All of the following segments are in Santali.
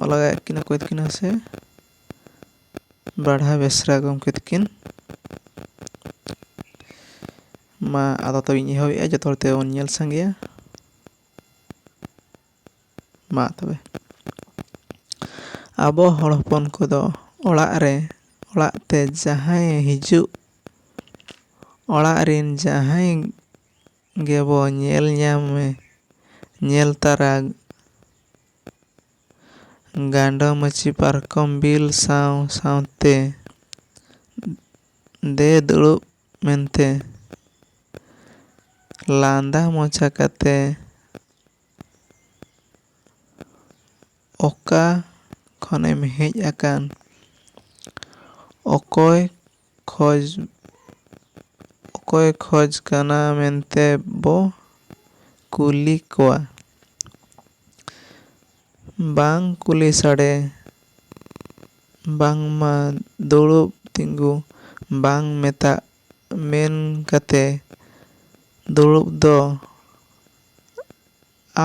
ᱚᱞ ᱞᱟᱜᱟᱭᱮᱫ ᱠᱤᱱᱟ ᱚᱠᱚᱭ ᱛᱟᱹᱠᱤᱱ ᱦᱮᱸᱥᱮ ᱵᱟᱲᱦᱟ ᱵᱮᱥᱨᱟ ᱜᱚᱢᱠᱮ ᱛᱟᱹᱠᱤᱱ ᱢᱟ ᱟᱫᱚ ᱛᱚᱵᱮ ᱤᱧ ᱮᱦᱚᱵᱮᱜᱼᱟ ᱡᱚᱛᱚ ᱦᱚᱲ ᱛᱮᱵᱚᱱ ᱧᱮᱞ ᱥᱟᱸᱜᱮᱭᱟ ᱢᱟ ᱛᱚᱵᱮ ᱟᱵᱚ ᱦᱚᱲ ᱦᱚᱯᱚᱱ ᱠᱚᱫᱚ ᱚᱲᱟᱜ ᱨᱮ ᱚᱲᱟᱜ ᱛᱮ ᱡᱟᱦᱟᱸᱭᱮ ᱦᱤᱡᱩᱜ ᱚᱲᱟᱜ ᱨᱮᱱ ᱡᱟᱦᱟᱸᱭ ᱜᱮᱵᱚ ᱧᱮᱞ ᱧᱟᱢᱮ ᱧᱮᱞ ᱛᱟᱨᱟ ᱜᱟᱸᱰᱚ ᱢᱟᱹᱪᱤ ᱯᱟᱨᱠᱚᱢ ᱵᱤᱞ ᱥᱟᱶ ᱥᱟᱶᱛᱮ ᱫᱮ ᱫᱩᱲᱩᱵ ᱢᱮᱱᱛᱮ ᱞᱟᱸᱫᱟ ᱢᱚᱪᱟ ᱠᱟᱛᱮ ᱚᱠᱟ ᱠᱷᱚᱱᱮᱢ ᱦᱮᱡ ᱟᱠᱟᱱ ᱚᱠᱚᱭ ᱠᱷᱚᱡᱽ ᱚᱠᱚᱭᱮ ᱠᱷᱚᱡᱽ ᱠᱟᱱᱟ ᱢᱮᱱᱛᱮ ᱵᱚ ᱠᱩᱞᱤ ᱠᱚᱣᱟ᱾ ᱵᱟᱝ ᱠᱩᱞᱤ ᱥᱟᱰᱮ ᱵᱟᱝᱢᱟ ᱫᱩᱲᱩᱵ ᱛᱤᱸᱜᱩ ᱵᱟᱝ ᱢᱮᱛᱟᱜ ᱢᱮᱱ ᱠᱟᱛᱮ ᱫᱩᱲᱩᱵ ᱫᱚ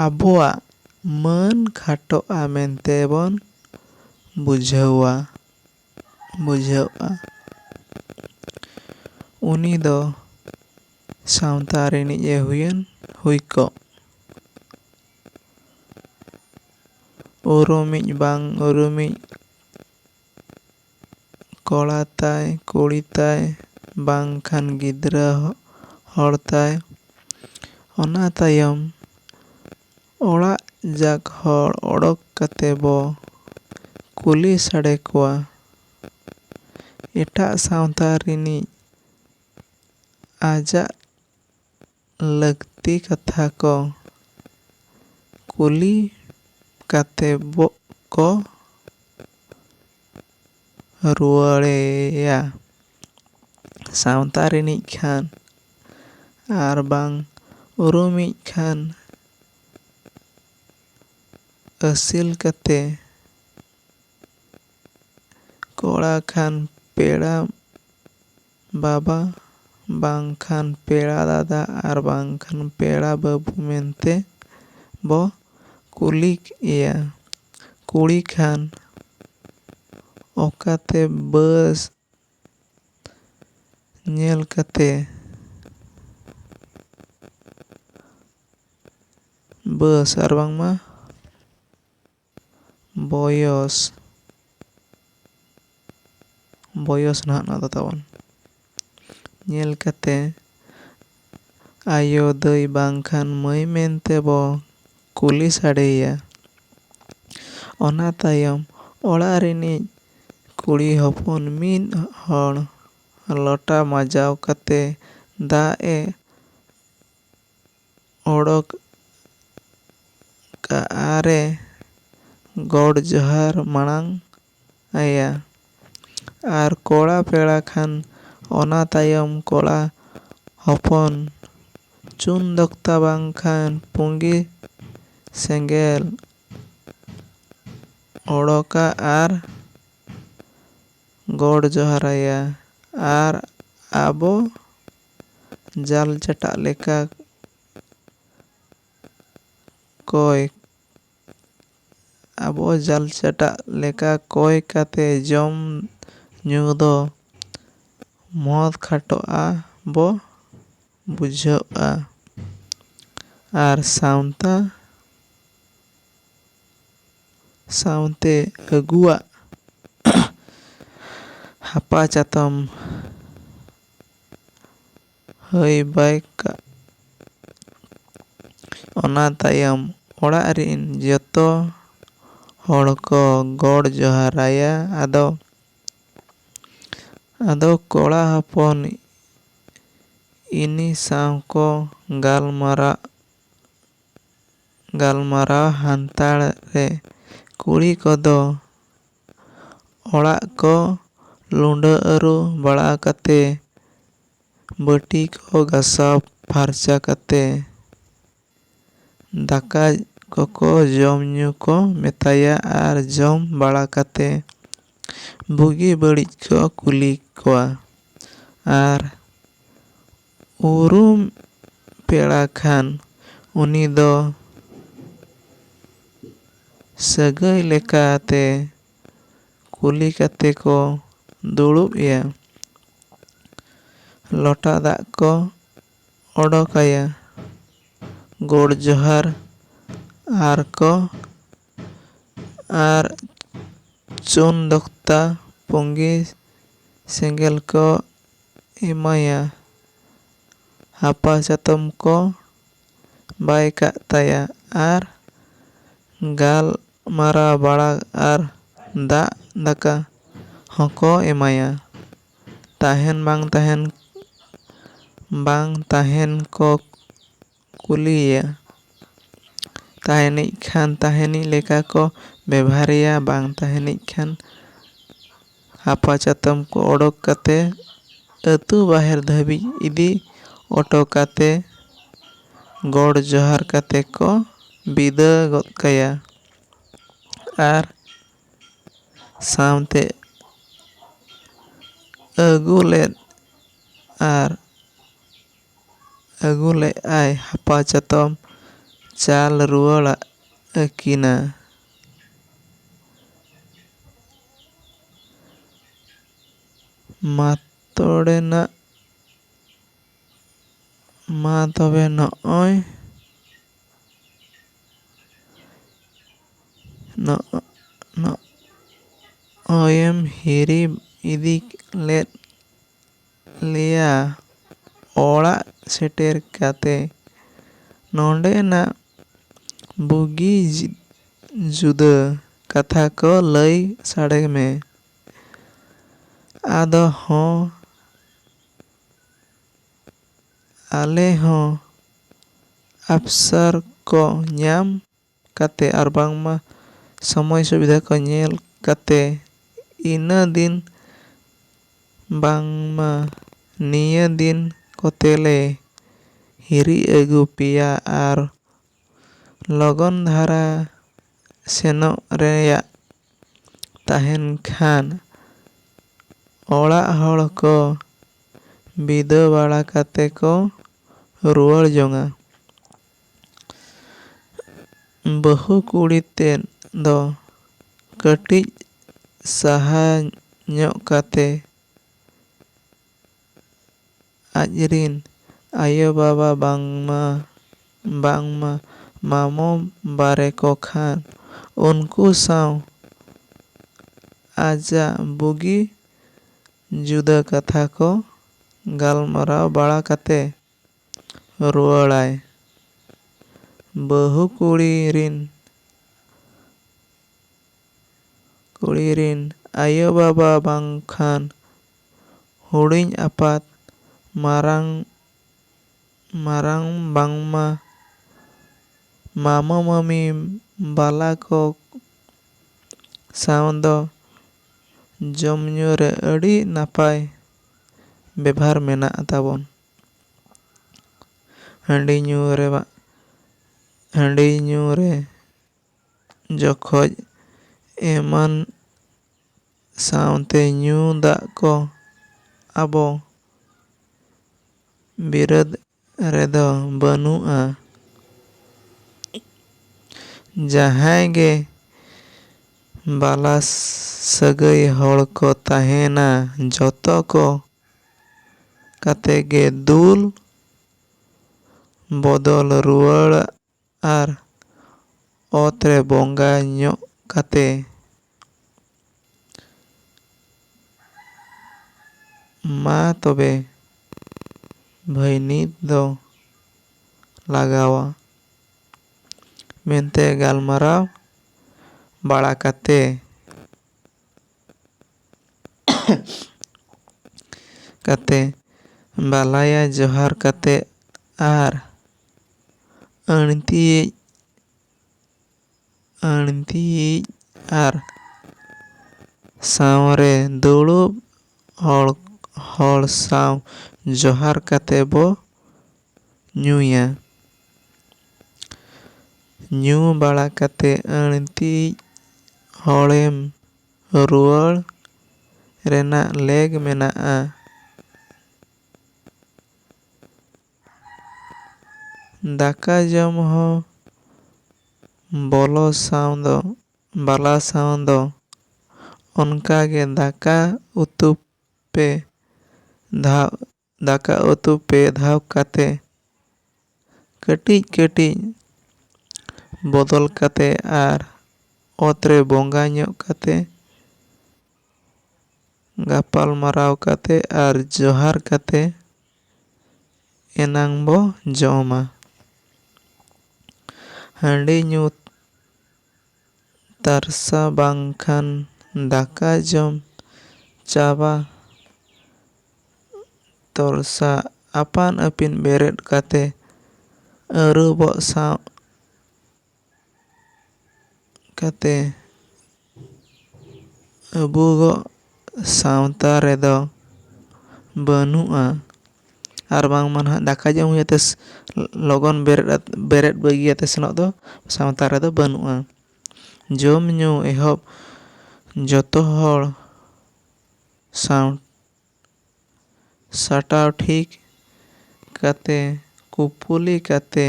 ᱟᱵᱚᱣᱟᱜ ᱢᱟᱹᱱ ᱠᱷᱟᱴᱚᱜᱼᱟ ᱢᱮᱱᱛᱮ ᱵᱚᱱ ᱵᱩᱡᱷᱟᱹᱣᱟ᱾ ᱵᱩᱡᱷᱟᱹᱣᱜᱼᱟ᱾ ᱩᱱᱤ ᱫᱚ ᱥᱟᱶᱛᱟ ᱨᱤᱱᱤᱡ ᱮ ᱦᱩᱭᱮᱱ ᱦᱩᱭ ᱠᱚᱜ᱾ ᱩᱨᱩᱢᱤᱡ ᱵᱟᱝ ᱩᱨᱩᱢᱤᱡ ᱠᱚᱲᱟ ᱛᱟᱭ ᱠᱩᱲᱤ ᱛᱟᱭ ᱵᱟᱝᱠᱷᱟᱱ ᱜᱤᱫᱽᱨᱟᱹ ᱦᱚᱲ ᱛᱟᱭ᱾ ᱚᱱᱟ ᱛᱟᱭᱚᱢ᱾ ᱚᱲᱟᱜ ᱡᱟᱠ ᱦᱚᱲ ᱚᱰᱚᱠ ᱠᱟᱛᱮ ᱵᱚ ᱠᱩᱞᱤ ᱥᱟᱰᱮ ᱠᱚᱣᱟ᱾ ᱮᱴᱟᱜ ᱥᱟᱶᱛᱟ ᱨᱤᱱᱤᱡ ᱟᱡᱟᱜ ᱞᱟᱹᱠᱛᱤ ᱠᱟᱛᱷᱟ ᱠᱚ ᱠᱩᱞᱤ ᱠᱟᱛᱮ ᱵᱚ ᱠᱚ ᱨᱩᱣᱟᱹᱲᱮᱭᱟ᱾ ᱥᱟᱶᱛᱟ ᱨᱤᱱᱤᱡ ᱠᱷᱟᱱ ᱟᱨ ᱵᱟᱝ ᱩᱨᱩᱢᱤᱡ ᱠᱷᱟᱱ ᱟᱹᱥᱤᱞ ᱠᱟᱛᱮ ᱠᱚᱲᱟ ᱠᱷᱟᱱ ᱯᱮᱲᱟ ᱵᱟᱵᱟ ᱵᱟᱝ ᱠᱷᱟᱱ ᱯᱮᱲᱟ ᱫᱟᱫᱟ ᱟᱨ ᱵᱟᱝ ᱠᱷᱟᱱ ᱯᱮᱲᱟ ᱵᱟᱹᱵᱩ ᱢᱮᱱᱛᱮ ᱵᱚ ᱠᱩᱞᱤ ᱮᱭᱟ᱾ ᱠᱩᱲᱤ ᱠᱷᱟᱱ ᱚᱠᱟᱛᱮ ᱵᱟᱹᱥ ᱧᱮᱞ ᱠᱟᱛᱮ ᱵᱟᱹᱥ ᱟᱨ ᱵᱟᱝᱢᱟ ᱵᱚᱭᱚᱥ ᱵᱚᱭᱚᱥ ᱱᱟᱦᱟᱜ ᱱᱚᱣᱟ ᱫᱚ ᱛᱟᱵᱚᱱ ᱧᱮᱞ ᱠᱟᱛᱮ ᱟᱭᱳ ᱫᱟᱹᱭ ᱵᱟᱝᱠᱷᱟᱱ ᱢᱟᱹᱭ ᱢᱮᱱᱛᱮ ᱵᱚ ᱠᱩᱞᱤ ᱥᱟᱰᱮᱭᱮᱭᱟ᱾ ᱚᱱᱟ ᱛᱟᱭᱚᱢ ᱚᱲᱟᱜ ᱨᱤᱱᱤᱡ ᱠᱩᱲᱤ ᱦᱚᱯᱚᱱ ᱢᱤᱫ ᱦᱚᱲ ᱞᱚᱴᱟ ᱢᱟᱡᱟᱣ ᱠᱟᱛᱮ ᱫᱟᱜ ᱮ ᱚᱰᱚᱠ ᱠᱟᱜᱼᱟ ᱟᱨ ᱮ ᱜᱚᱰ ᱡᱚᱦᱟᱨ ᱢᱟᱬᱟᱝ ᱟᱭᱟ᱾ ᱟᱨ ᱠᱚᱲᱟ ᱯᱮᱲᱟ ᱠᱷᱟᱱ ᱚᱱᱟ ᱛᱟᱭᱚᱢ ᱠᱚᱲᱟ ᱦᱚᱯᱚᱱ ᱪᱩᱱ ᱫᱚᱠᱛᱟ ᱵᱟᱝ ᱠᱷᱟᱱ ᱯᱩᱸᱜᱤ ᱥᱮᱸᱜᱮᱞ ᱚᱰᱚᱠᱟ ᱟᱨ ᱜᱚᱰ ᱡᱚᱦᱟᱨ ᱟᱭᱟ᱾ ᱟᱨ ᱟᱵᱚ ᱡᱟᱞ ᱪᱟᱴᱟᱜ ᱞᱮᱠᱟ ᱠᱚᱭ᱾ ᱟᱵᱚ ᱡᱟᱞᱪᱟᱴᱟᱜ ᱞᱮᱠᱟ ᱠᱚᱭ ᱠᱟᱛᱮ ᱡᱚᱢ ᱧᱩ ᱫᱚ ᱢᱚᱦᱚᱛ ᱠᱷᱟᱴᱚᱜᱼᱟ ᱵᱚ ᱵᱩᱡᱷᱟᱹᱣᱜᱼᱟ ᱟᱨ ᱥᱟᱶᱛᱟ ᱥᱟᱶᱛᱮ ᱟᱹᱜᱩᱣᱟᱜ ᱦᱟᱯᱟ ᱪᱟᱛᱚᱢ ᱦᱟᱹᱭ ᱵᱟᱭ ᱠᱟᱜᱼᱟ᱾ ᱚᱱᱟ ᱛᱟᱭᱚᱢ ᱚᱲᱟᱜ ᱨᱤᱱ ᱡᱚᱛᱚ ᱦᱚᱲ ᱠᱚ ᱜᱚᱰ ᱡᱚᱦᱟᱨ ᱟᱭᱟ᱾ ᱟᱫᱚ ᱟᱫᱚ ᱠᱚᱲᱟ ᱦᱚᱯᱚᱱ ᱤᱱᱤ ᱥᱟᱶ ᱠᱚ ᱜᱟᱞᱢᱟᱨᱟᱜ ᱜᱟᱞᱢᱟᱨᱟᱣ ᱦᱟᱱᱛᱟᱲ ᱨᱮ ᱠᱩᱲᱤ ᱠᱚᱫᱚ ᱚᱲᱟᱜ ᱠᱚ ᱞᱩᱸᱰᱟᱹ ᱟᱹᱨᱩ ᱵᱟᱲᱟ ᱠᱟᱛᱮ ᱵᱟᱹᱴᱤ ᱠᱚ ᱜᱟᱥᱟᱣ ᱯᱷᱟᱨᱪᱟ ᱠᱟᱛᱮ ᱫᱟᱠᱟ ᱠᱚᱠᱚ ᱡᱚᱢ ᱧᱩ ᱠᱚ ᱢᱮᱛᱟᱭᱟ ᱟᱨ ᱡᱚᱢ ᱵᱟᱲᱟ ᱠᱟᱛᱮ ᱵᱩᱜᱤ ᱵᱟᱹᱲᱤᱡ ᱠᱚ ᱠᱩᱞᱤ ᱠᱚᱣᱟ ᱟᱨ ᱩᱨᱩᱢ ᱯᱮᱲᱟ ᱠᱷᱟᱱ ᱩᱱᱤ ᱫᱚ ᱥᱟᱹᱜᱟᱹᱭ ᱞᱮᱠᱟ ᱛᱮ ᱠᱩᱞᱤ ᱠᱟᱛᱮ ᱠᱚ ᱫᱩᱲᱩᱵ ᱮᱭᱟ᱾ ᱞᱚᱴᱟ ᱫᱟᱜ ᱠᱚ ᱚᱰᱚᱠ ᱟᱭᱟ, ᱜᱚᱰ ᱡᱚᱦᱟᱨ ᱟᱨ ᱠᱚ ᱟᱨ ᱪᱩᱱ ᱫᱚᱠᱛᱟ ᱯᱩᱸᱜᱤ ᱥᱮᱸᱜᱮᱞ ᱠᱚ ᱮᱢᱟᱭᱟ᱾ ᱦᱟᱯᱟ ᱪᱟᱛᱚᱢ ᱠᱚ ᱵᱟᱭ ᱠᱟᱜ ᱛᱟᱭᱟ ᱟᱨ ᱜᱟᱞᱢᱟᱨᱟᱣ ᱵᱟᱲᱟ ᱟᱨ ᱫᱟᱜ ᱫᱟᱠᱟ ᱦᱚᱸᱠᱚ ᱮᱢᱟᱭᱟ᱾ ᱛᱟᱦᱮᱱ ᱵᱟᱝ ᱛᱟᱦᱮᱱ ᱵᱟᱝ ᱛᱟᱦᱮᱱ ᱠᱚ᱾ ᱠᱩᱞᱤᱭᱮᱭᱟ᱾ ᱛᱟᱦᱮᱸᱱᱤᱡ ᱠᱷᱟᱱ ᱛᱟᱦᱮᱸᱱᱤᱡ ᱞᱮᱠᱟ ᱠᱚ ᱵᱮᱵᱷᱟᱨᱮᱭᱟ ᱵᱟᱝ ᱛᱟᱦᱮᱸᱱᱤᱡ ᱠᱷᱟᱱ ᱦᱟᱯᱟ ᱪᱟᱛᱚᱢ ᱠᱚ ᱚᱰᱚᱠ ᱠᱟᱛᱮ ᱟᱹᱛᱩ ᱵᱟᱦᱮᱨ ᱫᱷᱟᱹᱵᱤᱡ ᱤᱫᱤ ᱚᱴᱚ ᱠᱟᱛᱮ ᱜᱚᱰ ᱡᱚᱦᱟᱨ ᱠᱟᱛᱮ ᱠᱚ ᱵᱤᱫᱟᱹ ᱜᱚᱫ ᱠᱟᱭᱟ ᱟᱨ ᱥᱟᱶᱛᱮ ᱟᱹᱜᱩ ᱞᱮᱫ ᱟᱨ ᱟᱹᱜᱩ ᱞᱮᱜᱼᱟᱭ ᱦᱟᱯᱟ ᱪᱟᱛᱚᱢ ᱪᱟᱞ ᱨᱩᱣᱟᱹᱲᱟᱜ ᱟᱹᱠᱤᱱᱟ᱾ ᱢᱟ ᱛᱚᱲᱮ ᱱᱟᱜ ᱢᱟ ᱛᱚᱵᱮ ᱱᱚᱜᱼᱚᱭ ᱱᱚᱜᱼᱚᱭᱮᱢ ᱦᱤᱨᱤ ᱤᱫᱤ ᱞᱮᱫ ᱞᱮᱭᱟ ᱚᱲᱟᱜ ᱥᱮᱴᱮᱨ ᱠᱟᱛᱮ ᱱᱚᱸᱰᱮᱱᱟᱜ ᱵᱩᱜᱤ ᱡᱩᱫᱟᱹ ᱠᱟᱛᱷᱟ ᱠᱚ ᱞᱟᱹᱭ ᱥᱟᱰᱮ ᱢᱮ᱾ ᱟᱫᱚ ᱦᱚᱸ ᱟᱞᱮ ᱦᱚᱸ ᱟᱯᱥᱟᱨ ᱠᱚ ᱧᱟᱢ ᱠᱟᱛᱮ ᱟᱨ ᱵᱟᱝᱢᱟ ᱥᱚᱢᱚᱭ ᱥᱩᱵᱤᱫᱷᱟ ᱠᱚ ᱧᱮᱞ ᱠᱟᱛᱮ ᱤᱱᱟᱹ ᱫᱤᱱ ᱵᱟᱝᱢᱟ ᱱᱤᱭᱟᱹ ᱫᱤᱱ ᱠᱚᱛᱮ ᱞᱮ ᱦᱤᱨᱤ ᱟᱹᱜᱩ ᱯᱮᱭᱟ ᱟᱨ ᱞᱚᱜᱚᱱ ᱫᱷᱟᱨᱟ ᱥᱮᱱᱚᱜ ᱨᱮᱭᱟᱜ ᱛᱟᱦᱮᱱ ᱠᱷᱟᱱ ᱚᱲᱟᱜ ᱦᱚᱲ ᱠᱚ ᱵᱤᱫᱟᱹ ᱵᱟᱲᱟ ᱠᱟᱛᱮ ᱠᱚ ᱨᱩᱣᱟᱹᱲ ᱡᱚᱝᱟ᱾ ᱵᱟᱹᱦᱩ ᱠᱩᱲᱤ ᱛᱮᱫ ᱫᱚ ᱠᱟᱹᱴᱤᱡ ᱥᱟᱦᱟ ᱧᱚᱜ ᱠᱟᱛᱮ ᱟᱡ ᱨᱤᱱ ᱟᱭᱳ ᱵᱟᱵᱟ ᱵᱟᱝᱢᱟ ᱵᱟᱝᱢᱟ ᱢᱟᱢᱚ ᱵᱟᱨᱮ ᱠᱚ ᱠᱷᱟᱱ ᱩᱱᱠᱩ ᱥᱟᱶ ᱟᱡᱟᱜ ᱵᱩᱜᱤ ᱡᱩᱫᱟᱹ ᱠᱟᱛᱷᱟ ᱠᱚ ᱜᱟᱞᱢᱟᱨᱟᱣ ᱵᱟᱲᱟ ᱠᱟᱛᱮ ᱨᱩᱣᱟᱹᱲᱟᱭ᱾ ᱵᱟᱹᱦᱩ ᱠᱩᱲᱤ ᱨᱤᱱ ᱠᱩᱲᱤ ᱨᱤᱱ ᱟᱭᱳ ᱵᱟᱵᱟ ᱵᱟᱝᱠᱷᱟᱱ ᱦᱩᱰᱤᱧ ᱟᱯᱟᱛ ᱢᱟᱨᱟᱝ ᱢᱟᱨᱟᱝ ᱵᱟᱝᱢᱟ ᱢᱟᱢᱚ ᱢᱟᱹᱢᱤ ᱵᱟᱞᱟ ᱠᱚ ᱥᱟᱶ ᱫᱚ ᱡᱚᱢ ᱧᱩ ᱨᱮ ᱟᱹᱰᱤ ᱱᱟᱯᱟᱭ ᱵᱮᱵᱷᱟᱨ ᱢᱮᱱᱟᱜ ᱛᱟᱵᱚᱱ᱾ ᱦᱟᱺᱰᱤ ᱧᱩ ᱨᱮ ᱵᱟᱝ ᱦᱟᱺᱰᱤ ᱧᱩ ᱨᱮ ᱡᱚᱠᱷᱚᱡ ᱮᱢᱟᱱ ᱥᱟᱶᱛᱮ ᱧᱩ ᱫᱟᱜ ᱠᱚ ᱟᱵᱚ ᱵᱤᱨᱟᱹᱫ ᱨᱮᱫᱚ ᱵᱟᱹᱱᱩᱜᱼᱟ᱾ ᱡᱟᱦᱟᱸᱭ ᱜᱮ ᱵᱟᱞᱟ ᱥᱟᱹᱜᱟᱹᱭ ᱦᱚᱲ ᱠᱚ ᱛᱟᱦᱮᱸᱱᱟ ᱡᱚᱛᱚ ᱠᱚ ᱠᱟᱛᱮ ᱜᱮ ᱫᱩᱞ ᱵᱚᱫᱚᱞ ᱨᱩᱣᱟᱹᱲᱚᱜᱼᱟ᱾ ᱟᱨ ᱚᱛ ᱨᱮ ᱵᱚᱸᱜᱟ ᱧᱚᱜ ᱠᱟᱛᱮ ᱢᱟ ᱛᱚᱵᱮ ᱵᱷᱟᱹᱭᱱᱤᱛ ᱫᱚ ᱞᱟᱜᱟᱣᱟ ᱢᱮᱱᱛᱮ ᱜᱟᱞᱢᱟᱨᱟᱣ ᱵᱟᱲᱟ ᱠᱟᱛᱮ ᱠᱟᱛᱮ ᱵᱟᱞᱟᱭᱟ ᱡᱚᱦᱟᱨ ᱠᱟᱛᱮ ᱟᱨ ᱟᱹᱬᱛᱤᱭᱤᱡ ᱟᱹᱬᱛᱤᱭᱤᱡ ᱟᱨ ᱥᱟᱶᱨᱮ ᱫᱩᱲᱩᱵ ᱦᱚᱲ ᱦᱚᱲ ᱥᱟᱶ ᱡᱚᱦᱟᱨ ᱠᱟᱛᱮ ᱵᱚ ᱧᱩᱭᱟ ᱧᱩ ᱵᱟᱲᱟ ᱠᱟᱛᱮ ᱟᱹᱬᱛᱤᱭᱤᱡ ᱦᱚᱲᱮᱢ ᱨᱩᱣᱟᱹᱲ ᱨᱮᱱᱟᱜ ᱞᱮᱠ ᱢᱮᱱᱟᱜᱼᱟ ᱫᱟᱠᱟ ᱡᱚᱢ ᱦᱚᱸ ᱵᱚᱞᱚ ᱥᱟᱶ ᱫᱚ ᱵᱟᱞᱟ ᱥᱟᱶ ᱫᱚ ᱚᱱᱠᱟ ᱜᱮ ᱫᱟᱠᱟ ᱩᱛᱩ ᱯᱮ ᱫᱷᱟᱣ ᱫᱟᱠᱟ ᱩᱛᱩ ᱯᱮ ᱫᱷᱟᱣ ᱠᱟᱛᱮ ᱠᱟᱹᱴᱤᱡ ᱠᱟᱹᱴᱤᱡ ᱵᱚᱫᱚᱞ ᱠᱟᱛᱮ ᱟᱨ ᱚᱛ ᱨᱮ ᱵᱚᱸᱜᱟ ᱧᱚᱜ ᱠᱟᱛᱮ ᱜᱟᱯᱟᱞᱢᱟᱨᱟᱣ ᱠᱟᱛᱮ ᱟᱨ ᱡᱚᱦᱟᱨ ᱠᱟᱛᱮ ᱮᱱᱟᱝ ᱵᱚ ᱡᱚᱢᱟ᱾ ᱦᱟᱺᱰᱤ ᱧᱩ ᱛᱟᱨᱥᱟ ᱵᱟᱝᱠᱷᱟᱱ ᱫᱟᱠᱟ ᱡᱚᱢ ᱪᱟᱵᱟ ᱛᱚᱨᱥᱟ ᱟᱯᱟᱱ ᱟᱹᱯᱤᱱ ᱵᱮᱨᱮᱫ ᱠᱟᱛᱮ ᱟᱹᱨᱩᱵᱚᱜ ᱥᱟᱶ ᱠᱟᱛᱮ ᱟᱵᱚᱣᱟᱜ ᱥᱟᱶᱛᱟ ᱨᱮᱫᱚ ᱵᱟᱹᱱᱩᱜᱼᱟ ᱟᱨ ᱵᱟᱝᱢᱟ ᱱᱟᱦᱟᱜ ᱫᱟᱠᱟ ᱡᱚᱢ ᱦᱩᱭᱩᱜ ᱛᱮ ᱞᱚᱜᱚᱱ ᱵᱮᱨᱮᱫ ᱟᱛᱮ ᱵᱮᱨᱮᱫ ᱵᱟᱹᱜᱤ ᱟᱛᱮ ᱥᱮᱱᱚᱜ ᱫᱚ ᱥᱟᱶᱛᱟ ᱨᱮᱫᱚ ᱵᱟᱹᱱᱩᱜᱼᱟ ᱡᱚᱢ ᱧᱩ ᱮᱦᱚᱵ ᱡᱚᱛᱚ ᱦᱚᱲ ᱥᱟᱶ ᱥᱟᱴᱟᱣ ᱴᱷᱤᱠ ᱠᱟᱛᱮ ᱠᱩᱯᱩᱞᱤ ᱠᱟᱛᱮ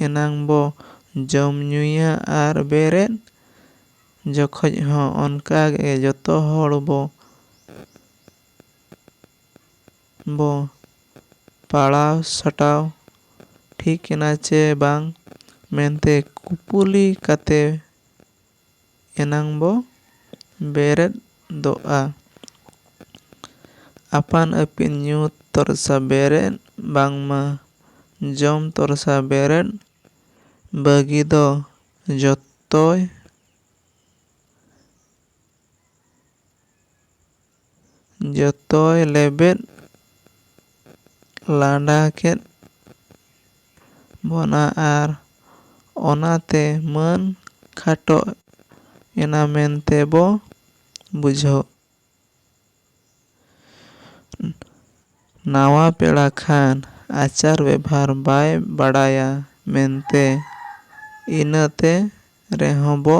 ᱮᱱᱟᱝ ᱵᱚ ᱡᱚᱢ ᱧᱩᱭᱟ ᱟᱨ ᱵᱮᱨᱮᱫ ᱡᱚᱠᱷᱚᱡ ᱦᱚᱸ ᱚᱱᱠᱟ ᱜᱮ ᱡᱚᱛᱚ ᱦᱚᱲ ᱵᱚ ᱵᱚ ᱯᱟᱲᱟᱣ ᱥᱟᱴᱟᱣ ᱴᱷᱤᱠ ᱮᱱᱟ ᱪᱮ ᱵᱟᱝ ᱢᱮᱱᱛᱮ ᱠᱩᱯᱩᱞᱤ ᱠᱟᱛᱮ ᱮᱱᱟᱝ ᱵᱚ ᱵᱮᱨᱮᱫ ᱫᱚᱜᱼᱟ᱾ ᱟᱯᱟᱱ ᱟᱹᱯᱤᱱ ᱧᱩ ᱛᱚᱨᱥᱟ ᱵᱮᱨᱮᱫ ᱵᱟᱝᱢᱟ ᱡᱚᱢ ᱛᱚᱨᱥᱟ ᱵᱮᱨᱮᱫ ᱵᱟᱹᱜᱤ ᱫᱚ ᱡᱚᱛᱚᱭ ᱡᱚᱛᱚᱭ ᱞᱮᱵᱮᱫ ᱞᱟᱸᱰᱟ ᱠᱮᱫ ᱵᱚᱱᱟ ᱟᱨ ᱚᱱᱟᱛᱮ ᱢᱟᱹᱱ ᱠᱷᱟᱴᱚ ᱮᱱᱟ ᱢᱮᱱᱛᱮ ᱵᱚ ᱵᱩᱡᱷᱟᱹᱣᱜ᱾ ᱱᱟᱶᱟ ᱯᱮᱲᱟ ᱠᱷᱟᱱ ᱟᱪᱟᱨ ᱵᱮᱵᱷᱟᱨ ᱵᱟᱭ ᱵᱟᱰᱟᱭᱟ ᱢᱮᱱᱛᱮ ᱤᱱᱟᱹᱛᱮ ᱨᱮᱦᱚᱸ ᱵᱚ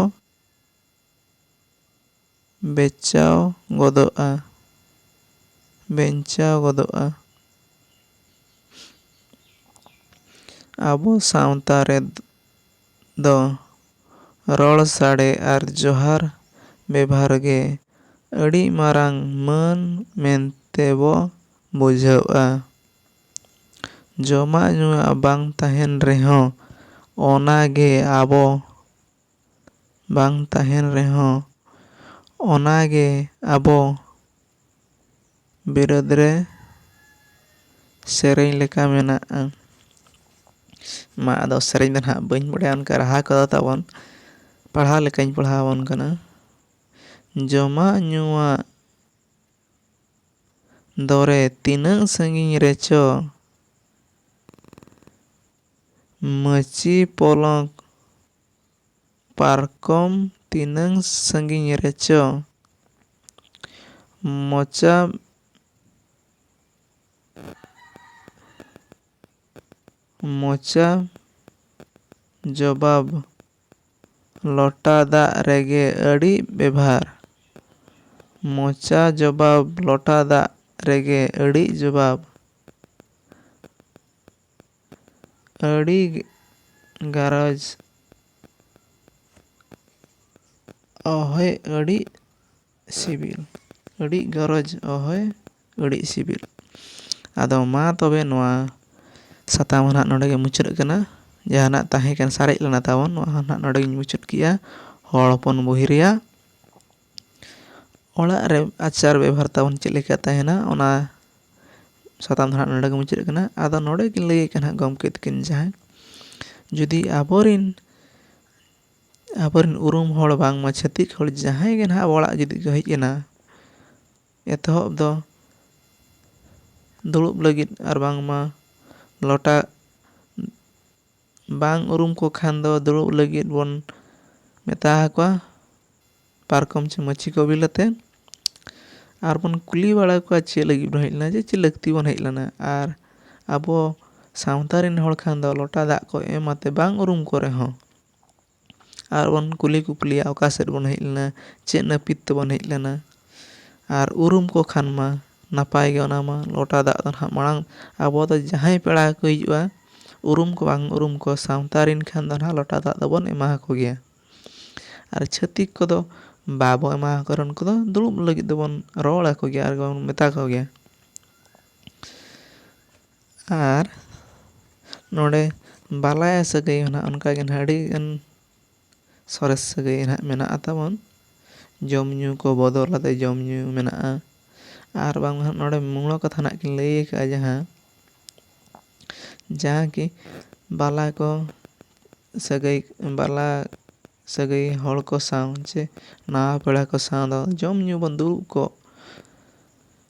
ᱵᱮᱪᱟᱣ ᱜᱚᱫᱚᱜᱼᱟ᱾ ᱵᱮᱧᱪᱟᱣ ᱜᱚᱫᱚᱜᱼᱟ᱾ ᱟᱵᱚ ᱥᱟᱶᱛᱟ ᱨᱮ ᱫᱚ ᱨᱚᱲ ᱥᱟᱰᱮ ᱟᱨ ᱡᱚᱦᱟᱨ ᱵᱮᱵᱷᱟᱨ ᱜᱮ ᱟᱹᱰᱤ ᱢᱟᱨᱟᱝ ᱢᱟᱹᱱ ᱢᱮᱱᱛᱮ ᱵᱚ ᱵᱩᱡᱷᱟᱹᱣᱜᱼᱟ᱾ ᱡᱚᱢᱟᱜ ᱧᱩᱣᱟᱜ ᱵᱟᱝ ᱛᱟᱦᱮᱸᱱ ᱨᱮᱦᱚᱸ ᱚᱱᱟ ᱜᱮ ᱟᱵᱚ᱾ ᱵᱟᱝ ᱛᱟᱦᱮᱱ ᱨᱮᱦᱚᱸ ᱚᱱᱟ ᱜᱮ ᱟᱵᱚ ᱵᱤᱨᱟᱹᱫ ᱨᱮ ᱥᱮᱨᱮᱧ ᱞᱮᱠᱟ ᱢᱮᱱᱟᱜᱼᱟ ᱢᱟ ᱟᱫᱚ ᱥᱮᱨᱮᱧ ᱫᱚ ᱱᱟᱦᱟᱜ ᱵᱟᱹᱧ ᱵᱟᱲᱟᱭᱟ ᱚᱱᱠᱟ ᱨᱟᱦᱟ ᱠᱚᱫᱚ ᱛᱟᱵᱚᱱ ᱯᱟᱲᱦᱟᱣ ᱞᱮᱠᱟᱧ ᱯᱟᱲᱦᱟᱣ ᱟᱵᱚᱱ ᱠᱟᱱᱟ ᱡᱚᱢᱟᱜ ᱧᱩᱣᱟᱜ ᱫᱚᱨᱮ ᱛᱤᱱᱟᱹᱜ ᱥᱟᱺᱜᱤᱧ ᱨᱮᱪᱚ ᱢᱟᱹᱪᱤ ᱯᱚᱞᱚᱝ ᱯᱟᱨᱠᱚᱢ ᱛᱤᱱᱟᱹᱝ ᱥᱟᱺᱜᱤᱧ ᱨᱮᱪᱚ ᱢᱚᱪᱟ ᱢᱚᱪᱟ ᱡᱚᱵᱟᱵᱽ ᱞᱚᱴᱟ ᱫᱟᱜ ᱨᱮᱜᱮ ᱟᱹᱰᱤ ᱵᱮᱵᱷᱟᱨ ᱢᱚᱪᱟ ᱡᱚᱵᱟᱵᱽ ᱞᱚᱴᱟ ᱫᱟᱜ ᱨᱮᱜᱮ ᱟᱹᱰᱤ ᱡᱚᱵᱟᱵᱽ᱾ ᱟᱹᱰᱤ ᱜᱟᱨᱚᱡᱽ ᱚᱦᱚᱭ ᱟᱹᱰᱤ ᱥᱤᱵᱤᱞ ᱟᱹᱰᱤ ᱜᱚᱨᱚᱡᱽ ᱚᱦᱚᱭ ᱟᱹᱰᱤ ᱥᱤᱵᱤᱞ ᱟᱫᱚ ᱢᱟ ᱛᱚᱵᱮ ᱱᱚᱣᱟ ᱥᱟᱛᱟᱢ ᱦᱚᱸ ᱱᱟᱜ ᱱᱚᱰᱮ ᱜᱮ ᱢᱩᱪᱟᱹᱫ ᱠᱟᱱᱟ ᱡᱟᱦᱟᱱᱟᱜ ᱛᱟᱦᱮᱸ ᱠᱟᱱᱟ ᱥᱟᱨᱮᱡ ᱞᱮᱱᱟ ᱛᱟᱵᱚᱱ ᱱᱚᱣᱟ ᱦᱚᱸ ᱱᱟᱜ ᱱᱚᱰᱮ ᱜᱮᱧ ᱢᱩᱪᱟᱹᱫ ᱠᱮᱜᱼᱟ ᱦᱚᱲ ᱦᱚᱯᱚᱱ ᱵᱳᱭ ᱨᱮᱭᱟᱜ ᱚᱲᱟᱜ ᱨᱮ ᱟᱪᱟᱨ ᱵᱮᱵᱚᱦᱟᱨ ᱛᱟᱵᱚᱱ ᱪᱮᱫ ᱞᱮᱠᱟ ᱛᱟᱦᱮᱱᱟ ᱚᱱᱟ ᱥᱟᱛᱟᱢ ᱫᱚ ᱦᱟᱸᱜ ᱱᱚᱰᱮ ᱜᱮ ᱢᱩᱪᱟᱹᱫ ᱠᱟᱱᱟ ᱟᱫᱚ ᱱᱚᱰᱮ ᱜᱮ ᱞᱟᱹᱭ ᱠᱟᱱᱟ ᱜᱚᱢᱠᱮ ᱛᱟᱹᱠᱤᱱ ᱡᱟᱦᱟᱸᱭ ᱡᱩᱫᱤ ᱟᱵᱚ ᱨᱮᱱ ᱟᱵᱚ ᱨᱮᱱ ᱩᱨᱩᱢ ᱦᱚᱲ ᱵᱟᱝᱢᱟ ᱪᱷᱟᱹᱛᱤᱠ ᱦᱚᱲ ᱡᱟᱦᱟᱸᱭ ᱜᱮ ᱦᱟᱸᱜ ᱟᱵᱚ ᱚᱲᱟᱜ ᱡᱩᱫᱤ ᱠᱚ ᱦᱮᱡ ᱮᱱᱟ ᱮᱛᱚᱦᱚᱵ ᱫᱚ ᱫᱩᱲᱩᱵ ᱞᱟᱹᱜᱤᱫ ᱟᱨ ᱵᱟᱝᱢᱟ ᱞᱚᱴᱟ ᱵᱟᱝ ᱩᱨᱩᱢ ᱠᱚ ᱠᱷᱟᱱ ᱫᱚ ᱫᱩᱲᱩᱵ ᱞᱟᱹᱜᱤᱫ ᱵᱚᱱ ᱢᱮᱛᱟ ᱟᱠᱚᱣᱟ ᱯᱟᱨᱠᱚᱢ ᱪᱮ ᱢᱟᱹᱪᱤ ᱠᱚ ᱵᱤᱞ ᱟᱛᱮ ᱟᱨ ᱵᱚᱱ ᱠᱩᱞᱤ ᱵᱟᱲᱟ ᱠᱚᱣᱟ ᱪᱮᱫ ᱞᱟᱹᱜᱤᱫ ᱵᱚᱱ ᱦᱮᱡ ᱞᱮᱱᱟ ᱡᱮ ᱪᱮᱫ ᱞᱟᱹᱠᱛᱤ ᱵᱚᱱ ᱦᱮᱡ ᱞᱮᱱᱟ ᱟᱨ ᱟᱵᱚ ᱥᱟᱶᱛᱟ ᱨᱮᱱ ᱦᱚᱲ ᱠᱷᱟᱱ ᱫᱚ ᱞᱚᱴᱟ ᱫᱟᱜ ᱠᱚ ᱮᱢ ᱟᱛᱮ ᱵᱟᱝ ᱩᱨᱩᱢ ᱠᱚ ᱨᱮᱦᱚᱸ ᱟᱨ ᱵᱚᱱ ᱠᱩᱞᱤ ᱠᱩᱯᱞᱤᱭᱟ ᱚᱠᱟ ᱥᱮᱫ ᱵᱚᱱ ᱦᱮᱡ ᱞᱮᱱᱟ ᱪᱮᱫ ᱱᱟᱹᱯᱤᱛ ᱛᱮᱵᱚᱱ ᱦᱮᱡ ᱞᱮᱱᱟ ᱟᱨ ᱩᱨᱩᱢ ᱠᱚ ᱠᱷᱟᱱ ᱢᱟ ᱱᱟᱯᱟᱭ ᱜᱮ ᱚᱱᱟ ᱢᱟ ᱞᱚᱴᱟ ᱫᱟᱜ ᱫᱚ ᱱᱟᱦᱟᱜ ᱢᱟᱲᱟᱝ ᱟᱵᱚ ᱫᱚ ᱡᱟᱦᱟᱸᱭ ᱯᱮᱲᱟ ᱜᱮᱠᱚ ᱦᱤᱡᱩᱜᱼᱟ ᱩᱨᱩᱢ ᱠᱚ ᱵᱟᱝ ᱩᱨᱩᱢ ᱠᱚ ᱥᱟᱶᱛᱟ ᱨᱮᱱ ᱠᱷᱟᱱ ᱫᱚ ᱱᱟᱦᱟᱜ ᱞᱚᱴᱟ ᱫᱟᱜ ᱫᱚᱵᱚᱱ ᱮᱢᱟ ᱟᱠᱚ ᱜᱮᱭᱟ ᱟᱨ ᱪᱷᱟᱹᱛᱤᱠ ᱠᱚᱫᱚ ᱵᱟᱵᱚ ᱮᱢᱟ ᱟᱠᱚ ᱨᱮᱦᱚᱸ ᱩᱱᱠᱩ ᱫᱚ ᱫᱩᱲᱩᱵ ᱞᱟᱹᱜᱤᱫ ᱫᱚᱵᱚᱱ ᱨᱚᱲ ᱟᱠᱚ ᱜᱮᱭᱟ ᱟᱨ ᱵᱚᱱ ᱢᱮᱛᱟ ᱠᱚᱜᱮᱭᱟ ᱟᱨ ᱱᱚᱰᱮ ᱵᱟᱞᱟᱭᱟ ᱥᱟᱹᱜᱟᱹᱭ ᱦᱚᱸ ᱱᱟᱦᱟᱜ ᱚᱱᱠᱟ ᱜᱮ ᱱᱟᱦᱟᱜ ᱟᱹᱰᱤ ᱜᱟᱱ ᱥᱚᱨᱮᱥ ᱥᱟᱹᱜᱟᱹᱭ ᱱᱟᱦᱟᱜ ᱢᱮᱱᱟᱜᱼᱟ ᱛᱟᱵᱚᱱ ᱡᱚᱢ ᱧᱩ ᱠᱚ ᱵᱚᱫᱚᱞ ᱠᱟᱛᱮᱫ ᱡᱚᱢ ᱧᱩ ᱢᱮᱱᱟᱜᱼᱟ ᱟᱨ ᱵᱟᱝ ᱢᱟ ᱱᱚᱰᱮ ᱢᱩᱬ ᱠᱟᱛᱷᱟ ᱱᱟᱦᱟᱜ ᱠᱤᱱ ᱞᱟᱹᱭ ᱠᱟᱜᱼᱟ ᱡᱟᱦᱟᱸ ᱡᱟᱦᱟᱸ ᱠᱤ ᱵᱟᱞᱟ ᱠᱚ ᱥᱟᱹᱜᱟᱹᱭ ᱵᱟᱞᱟ ᱥᱟᱹᱜᱟᱹᱭ ᱦᱚᱲ ᱠᱚ ᱥᱟᱶ ᱪᱮ ᱱᱟᱣᱟ ᱯᱮᱲᱟ ᱠᱚ ᱥᱟᱶ ᱫᱚ ᱡᱚᱢ ᱧᱩ ᱵᱚᱱ ᱫᱩᱲᱩᱵ ᱠᱚᱜ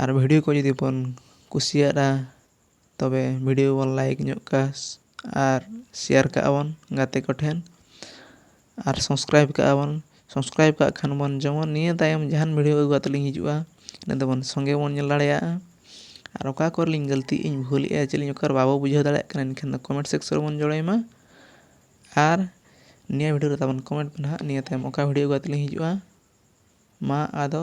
ᱟᱨ ᱵᱷᱤᱰᱤᱭᱳ ᱠᱚ ᱡᱩᱫᱤ ᱵᱚᱱ ᱠᱩᱥᱤᱭᱟᱜᱼᱟ ᱛᱚᱵᱮ ᱵᱷᱤᱰᱤᱭᱳ ᱵᱚᱱ ᱞᱟᱭᱤᱠ ᱧᱚᱜ ᱠᱟᱜᱼᱟ ᱟᱨ ᱥᱮᱭᱟᱨ ᱠᱟᱜᱼᱟ ᱵᱚᱱ ᱜᱟᱛᱮ ᱠᱚᱴᱷᱮᱱ ᱟᱨ ᱥᱟᱵᱥᱠᱨᱟᱭᱤᱵᱽ ᱠᱟᱜᱼᱟ ᱵᱚᱱ ᱥᱟᱵᱥᱠᱨᱟᱭᱤᱵᱽ ᱠᱟᱜ ᱠᱷᱟᱱ ᱵᱚᱱ ᱡᱮᱢᱚᱱ ᱱᱤᱭᱟᱹ ᱛᱟᱭᱚᱢ ᱡᱟᱦᱟᱱ ᱵᱷᱤᱰᱤᱭᱳ ᱟᱹᱜᱩ ᱠᱟᱛᱮᱫ ᱞᱤᱧ ᱦᱤᱡᱩᱜᱼᱟ ᱤᱱᱟᱹ ᱛᱮᱵᱚᱱ ᱥᱚᱸᱜᱮ ᱵᱚᱱ ᱧᱮᱞ ᱫᱟᱲᱮᱭᱟᱜᱼᱟ ᱟᱨ ᱚᱠᱟ ᱠᱚᱨᱮ ᱞᱤᱧ ᱜᱟᱹᱞᱛᱤᱭᱮᱫᱼᱟ ᱤᱧ ᱵᱷᱩᱞᱮᱫᱼᱟ ᱪᱮᱫ ᱞᱤᱧ ᱚᱠᱟᱨᱮ ᱵᱟᱵᱚ ᱵᱩᱡᱷᱟᱹᱣ ᱫᱟᱲᱮᱭᱟᱜ ᱠᱟᱱᱟ ᱮᱱᱠᱷᱟᱱ ᱫᱚ ᱠᱚᱢᱮᱱᱴ ᱥᱮᱠᱥᱮᱱ ᱨᱮᱵᱚᱱ ᱡᱳᱲᱟᱭ ᱢᱟ ᱟᱨ ᱱᱤᱭᱟᱹ ᱵᱷᱤᱰᱤᱭᱳ ᱨᱮ ᱛᱟᱵᱚᱱ ᱠᱚᱢᱮᱱᱴ ᱯᱮ ᱱᱟᱦᱟᱜ ᱱᱤᱭᱟᱹ ᱛᱟᱭᱚᱢ ᱚᱠᱟ ᱵᱷᱤᱰᱤᱭᱳ ᱟᱹᱜᱩ ᱠᱟᱛᱮᱫ ᱞᱤᱧ ᱦᱤᱡᱩᱜᱼᱟ ᱢᱟ ᱟᱫᱚ